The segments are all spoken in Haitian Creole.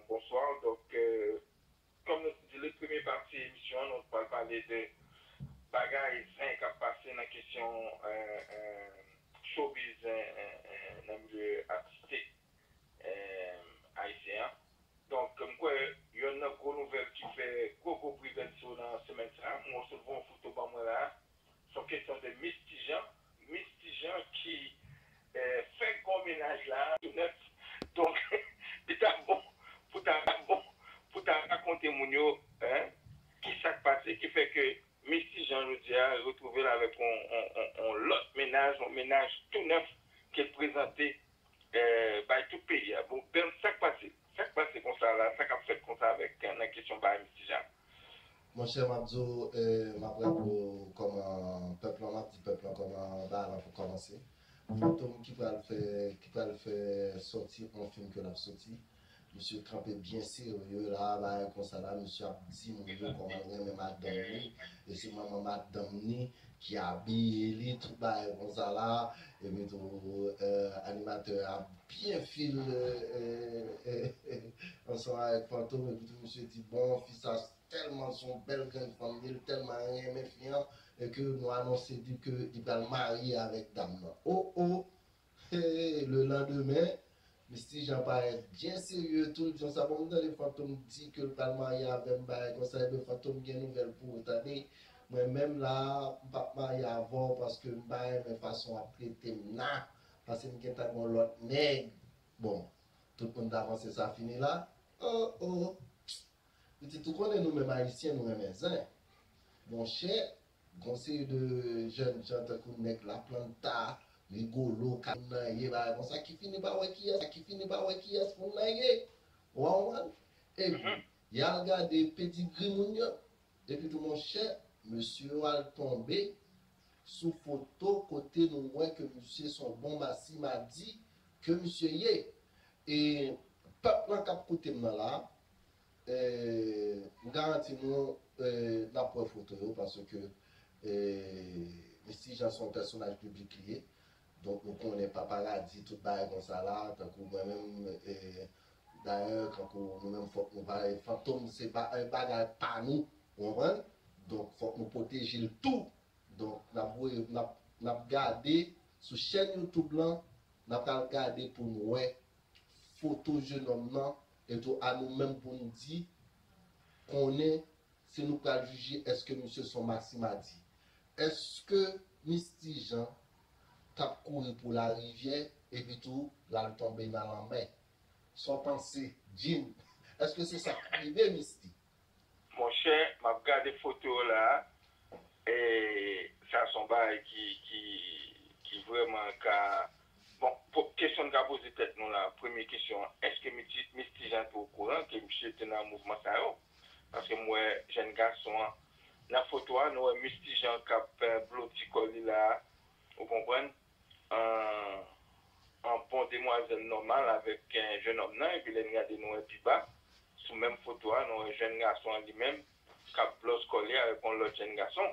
Bonsoir dok kom nou t di li premye pati emisyon an nou t pral pale de bagay zen kap pase nan kesyon showbiz nan milye atistik ayisyen an donk m kwè yonn nan gwo nouvèl ki fè gwo gwo bri bèt so nan semèn sa mwen w sot voye yon foto ban mwen la Son kesyon de Miss Tijan. Miss Tijan ki fè gwo mennaj la. Tou nèf. Donk li ta bon pou ta bon pou ta rakonte moun yo ki sa k pase ki fè ke Miss Tijan jodi a retwouve l avèk yon lòt mennaj, yon mennaj tou nèf ke l prezante bay tout peyi a bon bèm sak pase sak pase konsa la sa kap fèt konsa avèk nan kesyon bay Mister Jacques. Monchè map di w map raple w kòman pèp lan map di pèp lan kòman bagay lan komanse Fantom ki pral fè ki pral fè sòti on fim ke lap sòti. Misye kanpe byen serye la bagay konsa la misye ap di moun yo komanl renmen madanm li e se manman madanm li ki abiye li tout bagay konsa la epi tou animatè a ap byen fil ansanm avèk fantom epi tou misye di bon fi sa tèlman son bèl grenn fanm li li tèlman renmen fi an e ke nou anonse li ke li pral marye avèk dam nan oh oh Hee le lendemain Misty Jean parèt byen serye tout jan sa bon m tande Fantom di ke l pral marye avèm bagay konsa ebyen Fantom gen nouvèl pou ou tande mwen menm la m pap marye avè w paske m pa renmen fason wap trete m la pase m gentan gon lòt nèg bon tout moun ta panse sa fini la oh oh pitit ou konnen nou menm ayisyen nou renmen zen monchè Gon seri de jèn jan tankou nèg la planta, rigolo, ka moun nan ye bagay konsa ki fini pa wè kiyès ki fini pa wè kiyès moun nan ye ou an konprann epi yal gade pedigri moun yo epi tou monchè mesye yo al tonbe sou foto kote nou wè ke misye son bon masi madi ke misye ye e pèp lan kap koutem nan la M garanti nou n ap wè foto yo paske Misty Jean se yon pèsonaj piblik li ye. Donk nou konnen paparadi tout bagay konsa la tankou mwen menm dayè kankou nou menm fòk nou pa fantom se bagay pa nou ou konprann donk fòk nou pwoteje l tou donk n ap voye n ap gade sou chèn youtube lan n ap pral gade pou n wè foto jenòm nan E tou a nou menm pou nou di, konnen, se nou pral jije èske misye son Maximadi. Èske Misty Jean t ap kouri pou larivyè epi tou l al tonbe nan lanmè? Son panse, Jim. Èske se sa k rive Misty? Monchè map gade foto yo la e sa son bagay ki vrèman ka bon kesyon n ka poze tèt nou la premye kesyon an eske Miss Ti Jean te okouran ke misye te nan mouvman sa yo paske m wè jèn gason an nan foto a nou wè Miss Ti Jean kap bloti kò li la ou konprann Ahh an bon demwazèl nòmal avèk jenòm nan epi lè n gade nou wè pi ba sou menm foto a nou wè jèn gason an li menm k ap blòs kò li avèk yon lòt jèn gason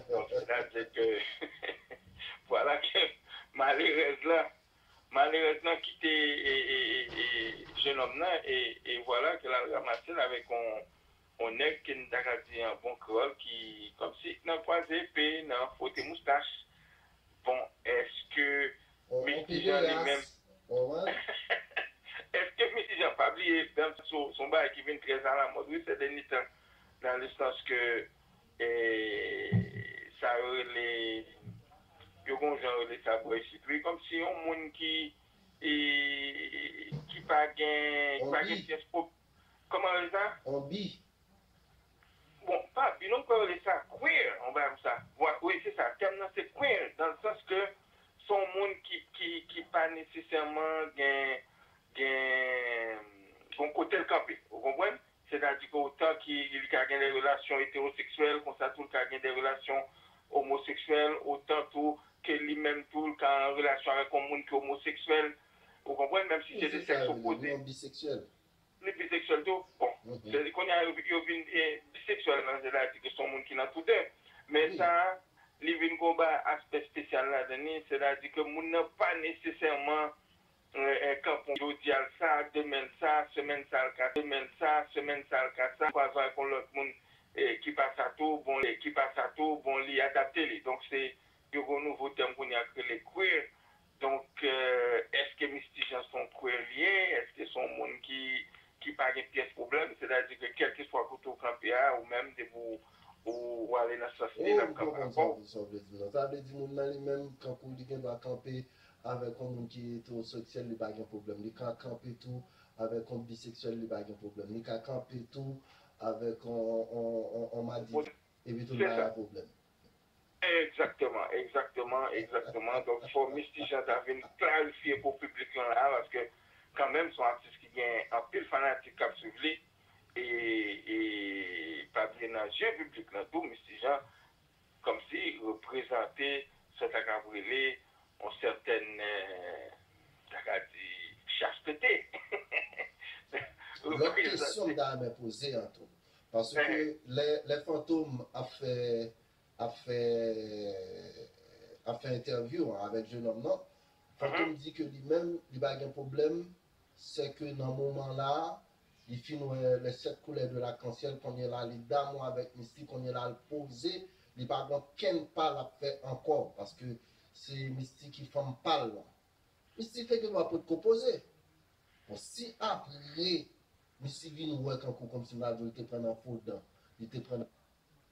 donk sètadi ke vwala ke malerèz lan malerèz lan kite jenòm nan e vwala ke l al ramase l avèk yon On nèg ke n ta ka di an bon kreyòl ki kòmsi nan kwaze epe, nan fwote moustach. Bon, èske Misty Jean li menm. On pederas. Èske Misty Jean pa bliye danm sou se yon bagay ki vin trè alamòd wi sè dènye tan nan le sans ke sa yo rele yo gen yon jan yo rele sa bò isit wi kòmsi yon moun ki pa gen syans. Koman rele sa? On bi. Bon, pa bi non, mkwè yo rele sa queer, on bagay konsa. Vwa, wi se sa, tèm nan se queer, dan l sans ke se on moun ki, ki, ki pa nesesèman gen, gen, gen on kote l kanpe. Ou konprann? Sètadi ke otan ke li ka gen de relasyon eteroseksyèl, konsa tou l ka gen de relasyon omoseksyèl, otan tou ke li menm tou l ka an relasyon avèk on moun ki omoseksyèl. Ou konprann? Menm si se de sèks opoze. Li biseksyèl tou. Bon, kounye a yo vin biseksyèl nan sèns la di ke son moun ki nan tou de. Men sa a, li vin gon ba aspè spesyal ladan li, sètadi ke moun nan pa nesesèman kanpon jodi a l sa, demen l sa, semèn sa l ka sa, ou pral jwenn ak yon lòt moun ki pa sa tou, bon ki pa sa tou, bon li adapte li. Donk se yo gen yon nouvo tèm kounye a ki rele queer Donk, èske Misty Jean se yon kwe l ye? Èske se yon moun ki pa gen pyès pwoblèm? Sètadi ke kèlkeswa kote w kanpe a, ou menm depi w ale nan sans li, l ap kanpe avè w. Sa w vle di non? Sa vle di moun nan li menm kankou li gen dwa kanpe avèk yon moun ki etewoseksyèl li pa gen pwoblèm, li ka kanpe tou avèk yon biseksyèl li pa gen pwoblèm, li ka kanpe tou avèk yon madivin epitou l pa gen pwoblèm? Egzakteman, egzakteman, egzakteman. Donk fò Misty Jean ta vin klarifye pou piblik lan la a paske kanmenm son atis ki gen anpil fanatik k ap swiv li e e pa bliye nan je piblik lan tou Misty Jean kòmsi reprezante sa ta kab rele yon sètèn ta ka di chastete. Lòt kesyon m ta renmen poze an tou Paske lè Fantom ap fè ap fè ap fè entèvyou an avèk jenòm lan, Fantom di ke li menm li pa gen pwoblèm sèke nan moman la a li fin wè les sept couleurs de l'arc-en-ciel kounye la li damou avèk Misty kounye la l poze li pa gen okenn pa l ap fè ankò paske se Misty ki fanm pa l lan. Misty te gen dwa potko poze. Bon si apre Misty vin wè kankou komsi Madoul te pran nan fo dan, li te pran nan.